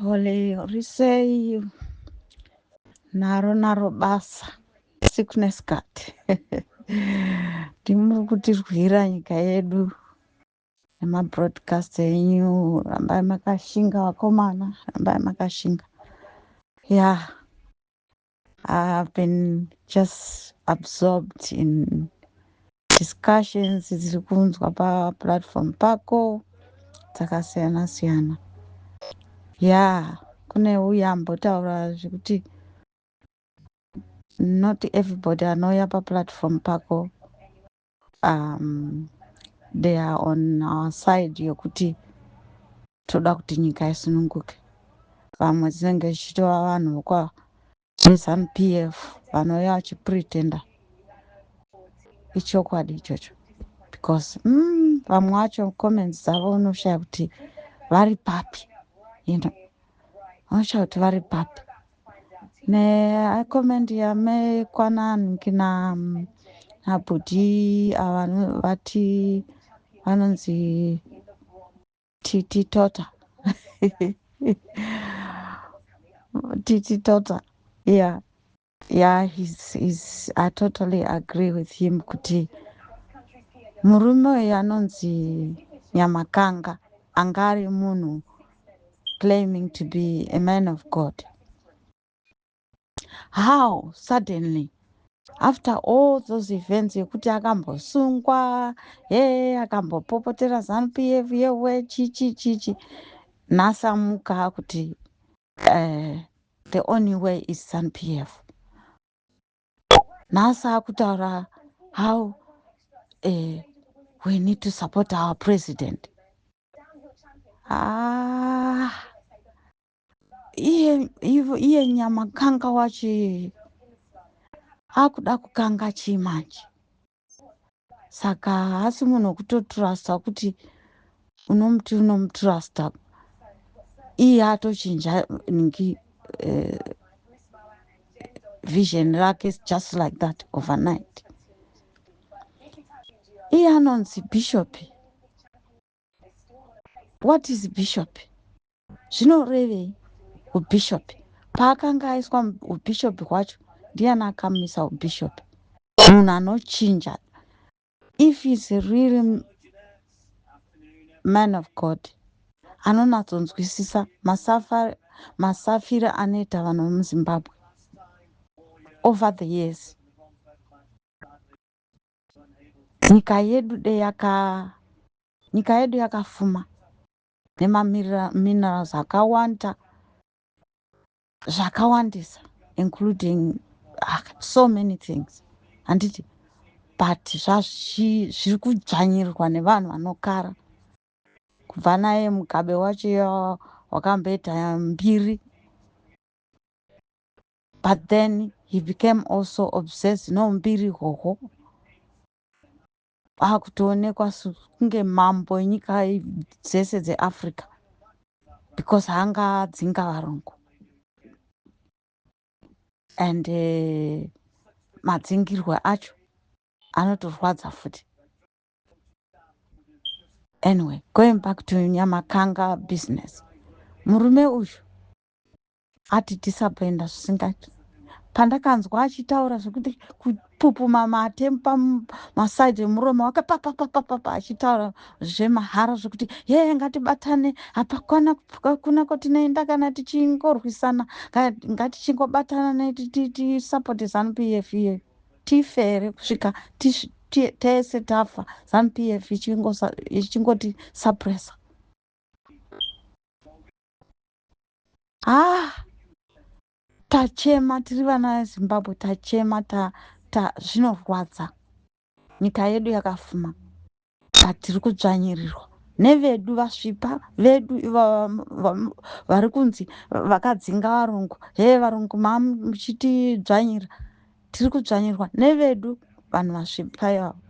Holy risei naro naro basa sickness card ndimuri kutirwira nyika yedu nemabroadcast enyu rambai makashinga vakomana rambai makashinga ya yeah. I've been just absorbed in discussions dziri kunzwa paplatform pako dzakasiyana siyana ya kune uya ambotaura zvekuti not everybody anouya paplatform pako um, they are on our side yokuti toda kuti nyika isununguke vamwe dzinenge dzichitova vanhu vokwa zanu p f vanouya vachipretenda ichokwadi ichocho because mm, vamwe vacho comments dzavo unoshaya kuti vari papi you know unoshaya kuti vari papi neacoment yame kwanan kina mm, abhuti ava no- vati vanonzi titi tota titi tota yeah yeah he's, he's, i totally agree with him kuti murume uyu anonzi nyamakanga anga ari munhu claiming to be a man of god how suddenly after all those events yekuti akambosungwa he akambopopotera zanupf yewe chichi chichi nhasi amuka akuti uh, the only way is zanupf nhasi akutaura how uh, we need to support our president ah, iye, iye nyama kanga wachi akuda kukanga chii manje saka haasi munhu wekutotrusta kuti unomuti unomutrusta iye atochinja ningi uh, vision rake just like that overnight iye anonzi bishopi What is bishop? Zvinorevei ubishop? Paakanga aiswa ubishop hwacho ndiani akamisa ubishop? Munhu anochinja. If he's a real man of God anonatsonzwisisa masafira anoita vanhu vemuzimbabwe over the years nyika yedu de yaka nyika yedu yakafuma nemaminerals akawanda zvakawandisa including ah, so many things handiti but zviri kudzvanyirirwa nevanhu vanokara kubva naye mugabe wacho wakamboita mbiri but then he became also obsessed noumbiri hoho akutoonekwa kunge mambo enyika dzese dzeafrica because hanga adzinga varungu and uh, madzingirwe acho anotorwadza futi anyway going back to nyamakanga business murume uyu Ati disappointa zvisingaiti. Pandakanzwa achitaura zvekuti kupupuma mate pamaside emuromo wake papapapapapa achitaura zvemahara zvekuti yeye ngatibatane hapakwana kuna kwatinoenda kana tichingorwisana ngatichingobatana netisapoti zanupf iyeyo tifere kusvika tese tafa zanupf ichingoti sapresa ah tachema tiri vana vezimbabwe tachema ta, ta zvinorwadza nyika yedu yakafuma but tiri kudzvanyirirwa nevedu vasvipa vedu vari kunzi vakadzinga varungu he varungu mamuchitidzvanyira tiri kudzvanyirwa nevedu vanhu vasvipa ivavo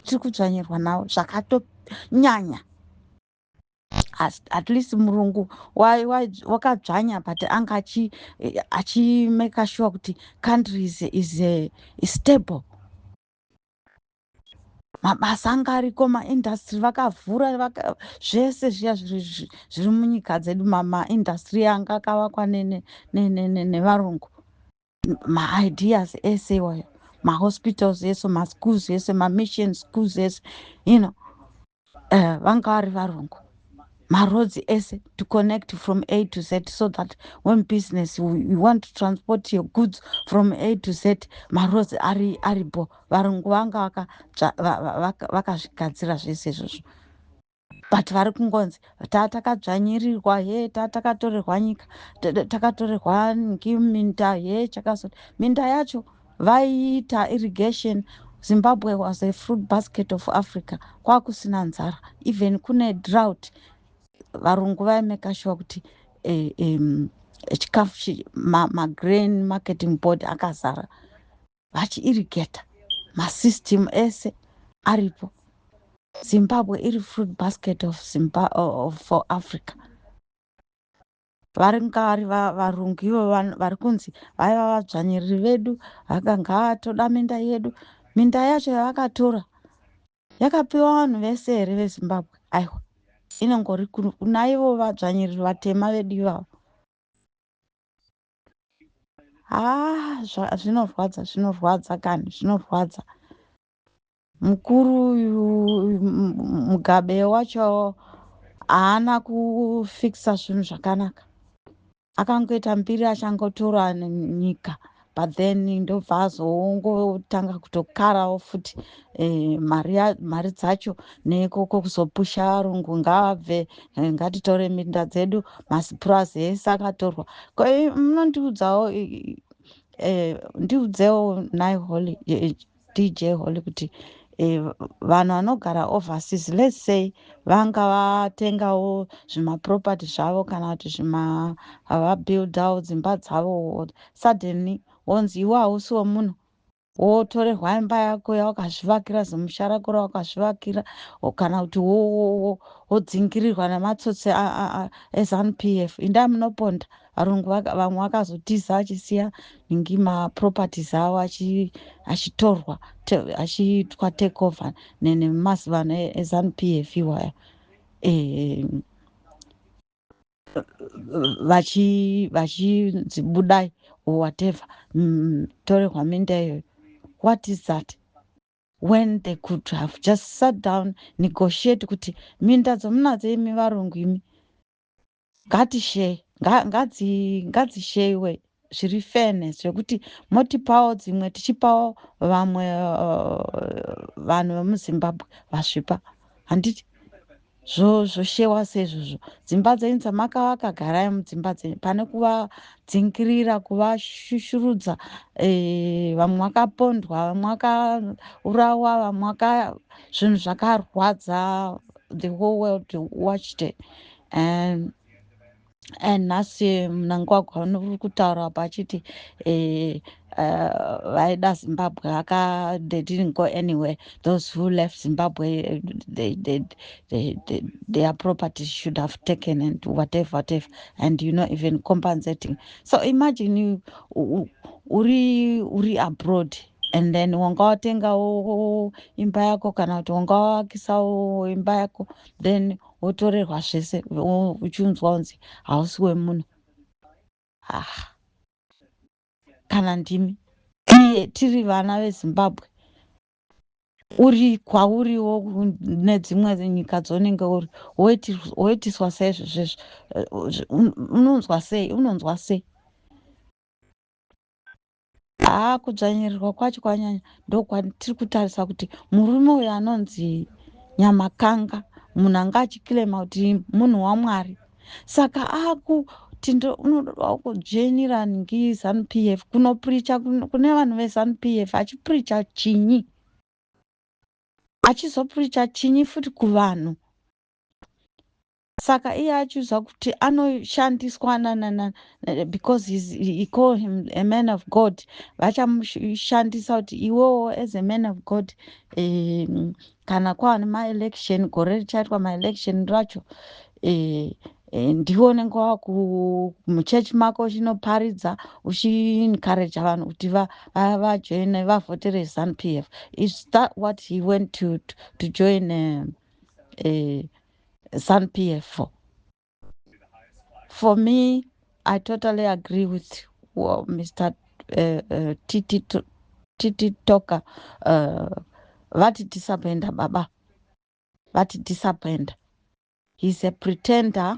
tiri kudzvanyirwa navo zvakatonyanya at least murungu wakadzvanya but anga achimake eh, sure kuti country is, is, eh, is stable mabasa anga ariko maindastry vakavhura zvese zviya zviri munyika dzedu maindastry anga akavakwa nevarungu maideas ese iwayo mahospitals ese maschools ese mamission schools ese you know uh, vanga vari varungu maroads ese to connect from a to z so that when business you want to transport your goods from a to z maroads ari aribo varungu vanga vakazvigadzira zvese izvozvo but vari kungonzi taa takadzvanyirirwa he taa takatorerwa nyika takatorerwa minda he chakazoti minda yacho vaiita irrigation zimbabwe was a fruit basket of africa kwakusina nzara even kune drought varungu vaimeka shuwa kuti eh, um, chikafu magrain ma marketing board akazara vachiirigeta masystem ese aripo zimbabwe iri fruit basket of, Zimba, of for africa varingavari varungu ivo vari kunzi vaiva vadzvanyiriri vedu vakanga vatoda minda yedu minda yacho yavakatora yakapiwa vanhu vese here vezimbabwe aiwa inongori kunaivo vadzvanyiriri vatema vedu ivavo haa zva- zvinorwadza zvinorwadza kani zvinorwadza mukuru uyu m- m- mugabe wacho haana kufikisa zvinhu zvakanaka akangoita mbiri achangotora n- nyika but then ndobva azongotanga kutokarawo futi eh, mari ya- mari dzacho nekoko kuzopusha varungu ngavabve eh, ngatitore minda dzedu masipurazi ese akatorwa ko eh, munondiudzawo i- i- eh, ndiudzewo nai holy eh, dj holy kuti eh, vanhu vanogara overseas let's say vanga vatengawo zvimaproperty zvavo kana kuti zvima vabuildawo dzimba dzavo suddenly wonzi iwe hausiwo munhu wotorerwa imba yako yawakazvivakira zimusha rako rawakazvivakira kana kuti wodzingirirwa nematsotsi ezanup f indaa munoponda varungu vamwe vakazotiza achisiya ingi maproperties avo achitorwa achiitwa take over nemazivano ezanup f iwaya ehe vachi vachinzi budai or whatever mm, torehwa minda iyoyo what is that when they could have just sat down negotiate kuti minda dzomunadzo imi varungu imi ngatishei ngatisheiwe zviri fairness zvekuti motipawo dzimwe tichipawo vamwe uh, vanhu vemuzimbabwe vasvipa handiti zvoshewa zvo seizvozvo dzimba dzenyu dzamakavaka garai mudzimba dzenyu pane kuvadzingirira kuvashushurudza e, vamwe vakapondwa vamwe vakaurawa vamwe vaka zvinhu zvakarwadza the whole world watched and and nhasi mnangwagwa uri kutaura apa achiti eh, eh, vaida uh, zimbabwe aka they didn't go anywhere those who left zimbabwe eh, they, they, they, they, their properties should have taken and whatever whatever and you know even compensating so imagine you, u, uri uri abroad and then wanga watengawo imba yako kana kuti wanga wakisawo imba yako then wotorerwa zvese uchiunzwa unzi hausi wemunhu ah. kana ndimi iye tiri vana vezimbabwe uri kwauriwo nedzimwe nyika dzonenge uri woitiswa sei zvezvezvo unonzwa sei unonzwa sei haa kudzvanyirirwa kwacho kwanyanya ndokwatiri kutarisa kuti murume uyo anonzi nyamakanga munhu anga achikilema kuti munhu wamwari saka aku tindo unododawo kudzvenyira ngi zanu p f kunopricha kune vanhu vezanu p f achipricha chinyi achizopricha chinyi futi kuvanhu Saka iye achiudzwa kuti anoshandiswa nanana because he's, he call him a man of God vachamushandisa kuti iwewo as a man of God um, kana kwava nemaelection gore richaitwa maelection racho um, Eh, ndiwe unenge wamuchechi mako uchinoparidza uchiencouraja vanhu kuti vajoine vavhotere zanu p f is that what he went to, to join um, uh, zanupf for me i totally agree with well, mr uh, uh, titi, titi toka uh, vati disappointa baba vati disappointa he's a pretender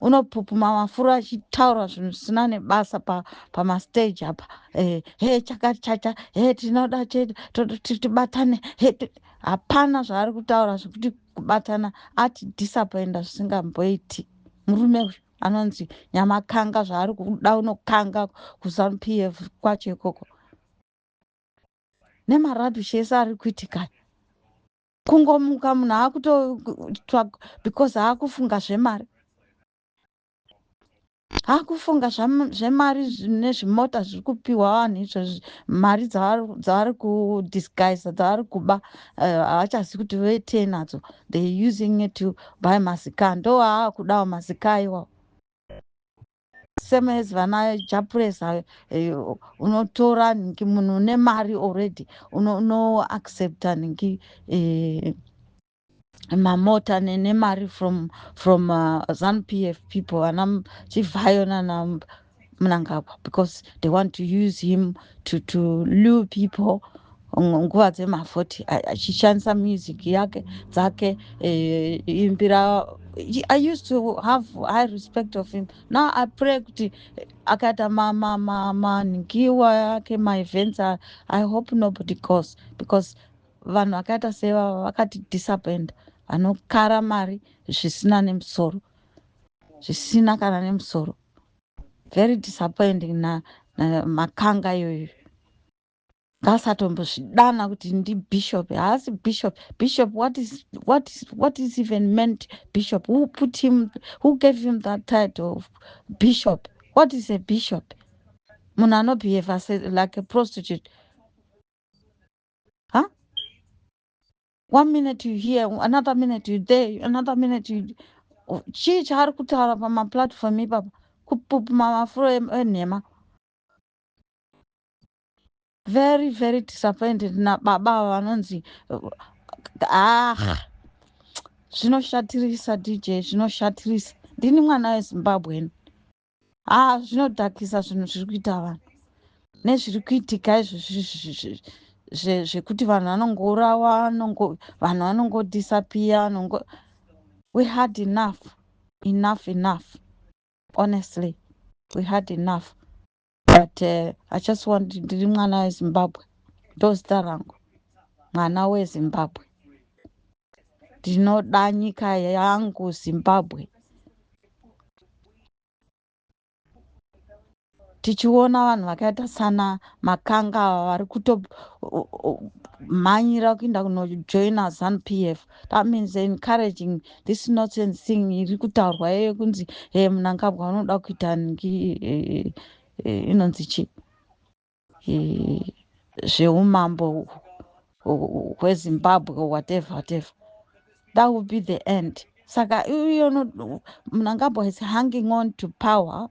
unopupuma mafuro achitaura zvinhu zvisina nebasa pamastage pa apa eh, he chakati chacha he tinoda chete tibatane he hapana zvaari kutaura zvekuti kubatana ati disappoinda zvisingamboiti murume uyu anonzi nyamakanga zvaari kuda unokanga kuzanupf kwacho ikoko nemarabishi ese ari kuitikaya kungomuka munhu akutoitwa because akufunga zvemari akufunga zvemari nezvimota zviri kupiwa vanhu izvozvi mari dzavari kudisguise dzavari kuba eh, havachazi uh, kuti vetei nadzo they using it to buy mazika ndo aakudawo mazika iwawo same as vana japres ayo eh, unotora nhingi munhu une mari already uno, uno accepta nhingi eh, mamota ne- nemari from from uh, zanupf people vana M- chivhayo nana M- mnangagwa because they want to use him to, to lure people nguva dzema 40 achishandisa music yake dzake eh, imbira i used to have high respect of him now i pray kuti akaita manhingiwa yake maevents i hope nobody cause because vanhu vakaita sevava vakati disappoint vanokara mari zvisina nemusoro zvisina kana nemusoro very disappointing na, na makanga iyoyo Ngaasatombozvidana kuti ndibishop. Haasi bishop. Bishop, what is, what is, what is even meant bishop? Who put him, who gave him that title of bishop? What is a bishop? Munhu anobehave like a prostitute. Huh? One minute you here, another minute you there, another minute you... Chii chaari kutaura pamaplatform ipapa? Kupupuma mafuro enhema. very very disappointed nababa ava vanonzi ah zvinoshatirisa dj zvinoshatirisa ndini mwana wezimbabweni haa zvinodhakisa zvinhu zviri kuita vanhu nezviri kuitika izvi zvekuti vanhu vanongourawa vanhu vanongodisapiya vanongo we had enough enough enough honestly we had enough but uh, i just want ndiri mwana wezimbabwe ndozita rangu mwana wezimbabwe ndinoda nyika yangu zimbabwe tichiona vanhu vakaita sana makanga vari kutomhanyira kuenda kunojoina zanu p f That means they're encouraging this nonsense thing iri kutaurwa yeye kunzi hey, eh, munangabwa unoda kuita ngi eh, eh, inonzi chi zveumambo hwezimbabwe whatever whatever that will be the end saka iyono munangabwa is hanging on to power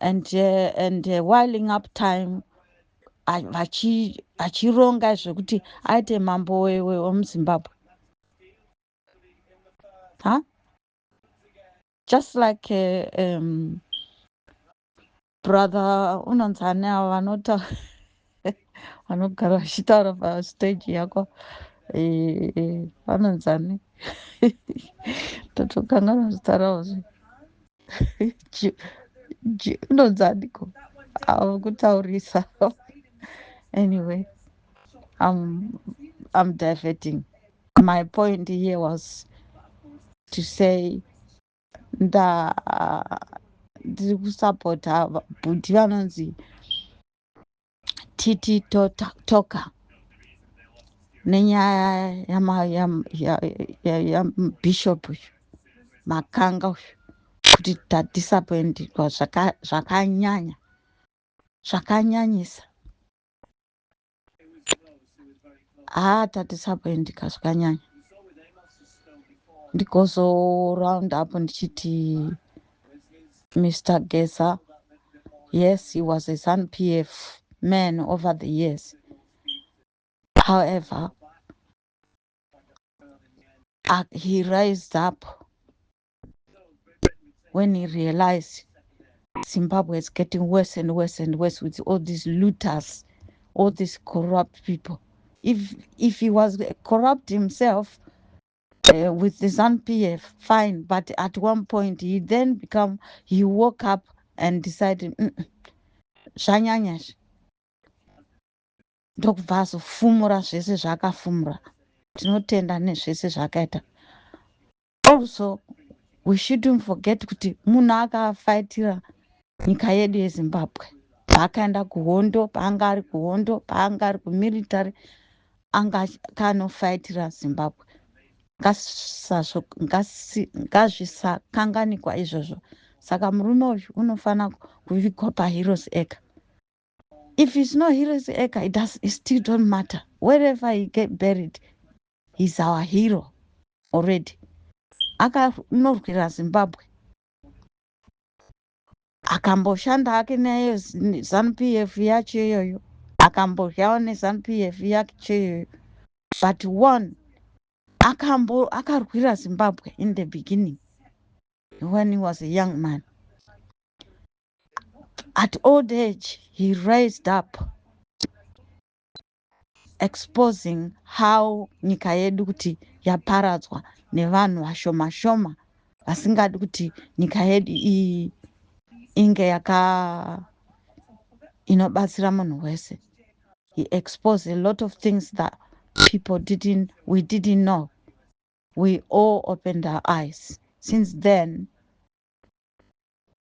and uh, and uh, whiling up time achironga zvekuti aite mambo wemuzimbabwe huh? just like uh, um, brother unonzi ani avo vanotaura vanogara vachitaura pastage yako vanonzani totokanganwa zita ravo zve unonzaniko avo kutaurisa anyway I'm, I'm diverting my point here was to say nda ndiri kusapota bhuti vanonzi titi toka nenyaya yabishop uyu makanga uyu kuti tadisappointirwa zvakanyanya zvakanyanyisa haa ah, tadisappointika zvakanyanya ndigozoraund up ndichiti mr gesa yes he was a sun p f man over the years however uh, he rised up when he realized Zimbabwe is getting worse and worse and worse with all these looters, all these corrupt people. If if he was corrupt himself uh, with the ZANPF, fine. But at one point, he then become he woke up and decided, mm, mm, zvanyanyash ndokubva azofumura zvese zvaakafumura tinotenda nezvese zvaakaita Also we shouldn't forget kuti munhu akafaitira nyika yedu yezimbabwe paakaenda kuhondo paanga ari kuhondo paanga ari kumilitary anga kanofaitira zimbabwe ngazvisakanganikwa izvozvo saka murume uyu unofanira kuvigwa paheroes ega If it's not heroes eka, it, does, it still don't matter. Wherever he get buried, he's our hero already. Akanorwira Zimbabwe. Akamboshanda hake naye ZANU-PF yacho iyoyo. Akambodyawo neZANU-PF yacho iyoyo. But one akambo akarwira Zimbabwe in the beginning when he was a young man. At old age, he raised up exposing how nyika yedu kuti yaparadzwa nevanhu vashoma shoma vasingadi kuti nyika yedu iyi inge yaka inobatsira munhu wese. He exposed a lot of things that people didn't, we didn't know. We all opened our eyes. Since then,